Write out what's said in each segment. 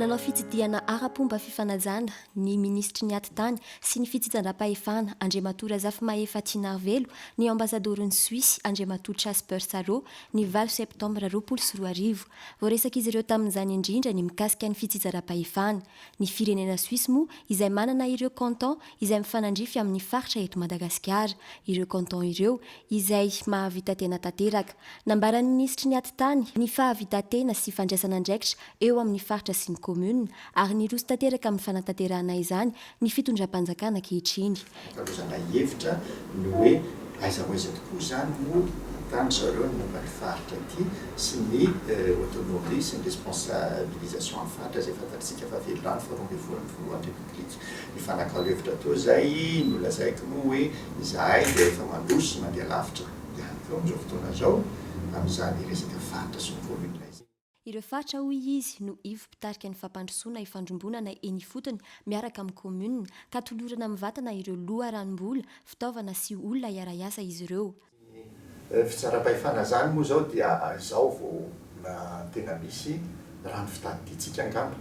Nanao fitsidihana ara-pomba fifanajana ny minisitry ny Atitany sy ny fitsitsandram-pahefana Andriamatoa Razafimahefa Tianarivelo ny Ambasadaoron'i Suisse Andriamatoa Chasper Salo ny valo Septambra roapolo sy roa arivo. Voaresak'izy ireo tamin'izany indrindra ny mikasika ny fitsitsaram-pahefana, Ny firenena Suisse moa izay manana ireo cantons izay mifanandrify amin'ny faritra eto Madagasikara. Ireo cantons ireo izay mahavita-tena tanteraka. Nambaran'ny minisitry ny Atitany ny fahavita-tena sy fandraisana andraikitra eo amin'ny faritra sy ny commune ary niroso tanteraka amin'ny fanatanterahana izany ny fitondram-panjakana ankehitriny. Hitako zalahy hevitra ny hoe aiza ho aiza tokoa izany no ahitan-dry zareo ny momba ny faritra ity sy ny autonomie sy ny responsabilisation amin'ny faritra izay fantatr'isika fa velona any faharoa ambin'ny folo ny filohan'ny Repoblika. Nifanakalo hevitra teo izay nolazaiko moa hoe izahay dia efa mandroso sy mandeha lavitra ihany koa amin'izao fotoana izao amin'izany resaka faritra sy ny commune izany. Ireo faritra hoy izy no ivo mpitarika ny fampandrosoana ifandrombonana eny ifotony miaraka amin'ny kaominina, ka tolorana mivatana ireo loharanom-bola, fitaovana sy olona hiara-hiasa izy ireo. Ny fitsaram-pahefana izany moa izao dia izao vao mba tena misy raha ny fitadidiantsika angamba.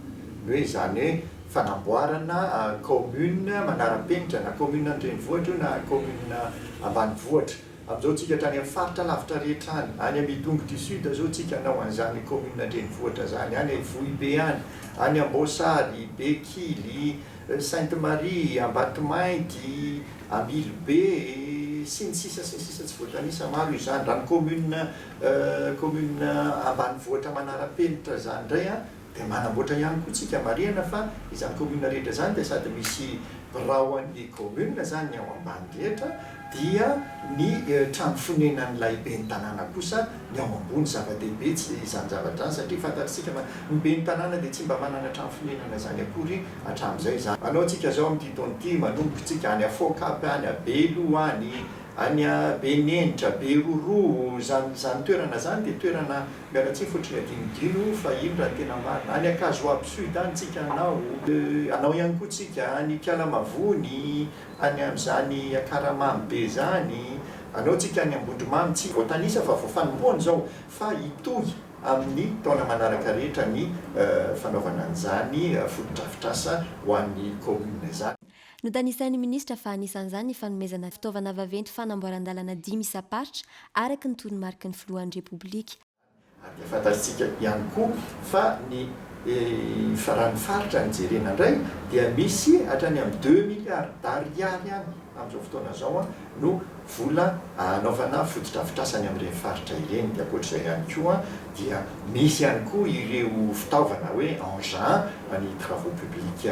Ny hoe izany hoe fanamboarana kaominina manara-penitra, na kaominina an-drenivohitra io na kaominina ambanivohitra. Amin'izao tsika tany amin'ny faritra lavitra rehetra any, any amin'ny Itongo du Sud izao tsika hanao an'izany commune an-drenivohitra izany, any Ivohibe any, any Amboasary, Bekily, Sainte Marie, Ambatomainty, Ambilobe, sy ny sisa sy ny sisa tsy voatanisa, maro izany, raha ny commune commune ambanivohitra manara-penitra izany indray an! Dia manamboatra ihany koa tsika marihana fa izany commune rehetra izany dia sady misy birao an'ny commune izany ny ao ambany rehetra dia ny trano fonenan'ilay ben'ny tanàna kosa ny ao ambony. Zava-dehibe tsy izany zavatra izany satria fantatr'isika fa ny ben'ny tanàna dia tsy mba manana trano fonenana izany akory hatramin'izay izany. Anao tsika izao amin'ity taona ity manomboka tsika any Afokap, any Belo any, any Benenitra, Beroroa, izany izany toerana izany dia toerana Miala tsiny fotry ny adinodino fa iny raha ny tena marina. Any Ankazoabo sud any tsika anao. Anao ihany koa tsika any Ikala Mavony, any amin'izany Akaramamy be izany. Anao tsika any Ambondromamy tsy voatanisa fa vao fanompoana izao fa hitohy amin'ny taona manaraka rehetra ny fanaovana an'izany fotodrafitrasa ho an'ny commune izany. Notanisain'ny minisitra fa anisan'izany ny fanomezana fitaovana vaventy fanamboaran-dalana dimy isam-paritra araka ny toromariky ny filohan'ny Repoblika. Ary dia fantatsika ihany koa fa ny faran'ny faritra no jerena indray dia misy hatrany amin'ny deux milliards d'ariary any amin'izao fotoana izao an! no vola hanaovana fotodrafitrasa any amin'ireny faritra ireny. Dia ankoatra izay ihany koa dia misy ihany koa ireo fitaovana hoe engins ny travaux publics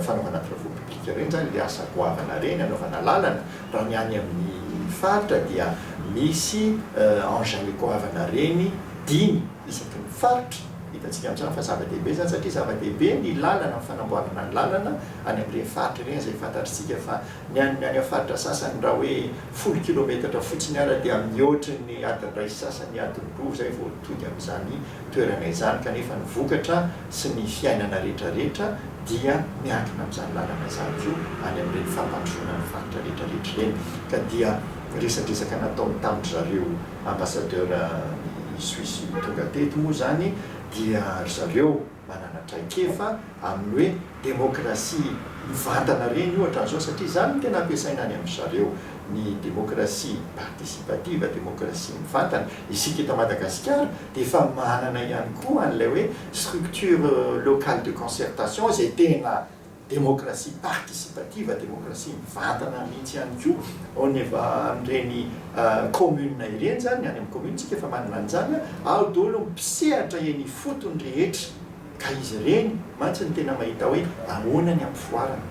fanaovana travaux publics ireny izany ilay asa goavana ireny hanaovana lalana raha ny any amin'ny faritra dia misy engins goavana ireny dimy isaky ny faritra. Hitantsika amin'izany fa zava-dehibe izany satria zava-dehibe ny lalana ny fanamboarana ny lalana any amin'ireny faritra ireny izay fantatr'isika fa Ny an'ny any amin'ny faritra sasany raha hoe folo kilometatra fotsiny ara dia mihoatry ny adiny iray sy sasany, adiny roa izay vao tody amin'izany toerana izany kanefa ny vokatra sy ny fiainana retraretra dia miankina amin'izany lalana izany koa any amin'ireny fampandrosoana ny faritra retraretra ireny ka dia resadresaka nataony tamin-dry zareo ambassadeur i Suisse tonga teto moa izany dia ry zareo manana traikefa amin'ny hoe demokrasia mivantana ireny ohatra an'izao satria izany no tena ampiasaina any amin-dry zareo ny demokrasia participative, demokrasia mivantana. Isika eto Madagasikara dia efa manana ihany koa an'ilay hoe structure locale de concertation izay tena. Demokrasia participative, demokrasia mivantana mihitsy ihany koa, au niva an'ireny communes ireny izany, ny any amin'ny commune tsika efa manana an'izany, ao daholo ny mpisehatra eny ifotony rehetra, ka izy ireny mantsy no tena mahita hoe ahoana ny hampivoarana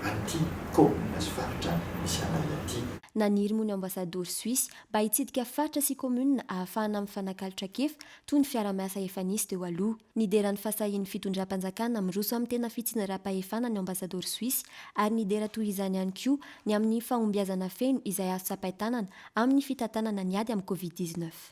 an'ity commune sy faritra misy anay aty. Naniry moa ny ambasadaoro Suisse mba hitsidika faritra sy commune ahafahana mifanakalo trakefa toy ny fiara-miasa efa nisy teo aloha. Nidera ny fahasahian'ny fitondram-panjakana miroso amin'ny tena fitsinjaram-pahefana ny Ambasadaoro Soisy ary nidera toy izany ihany koa ny amin'ny fahombiazana feno izay azo tsapain-tanana amin'ny fitantanana ny ady amin'ny Covid dix-neuf.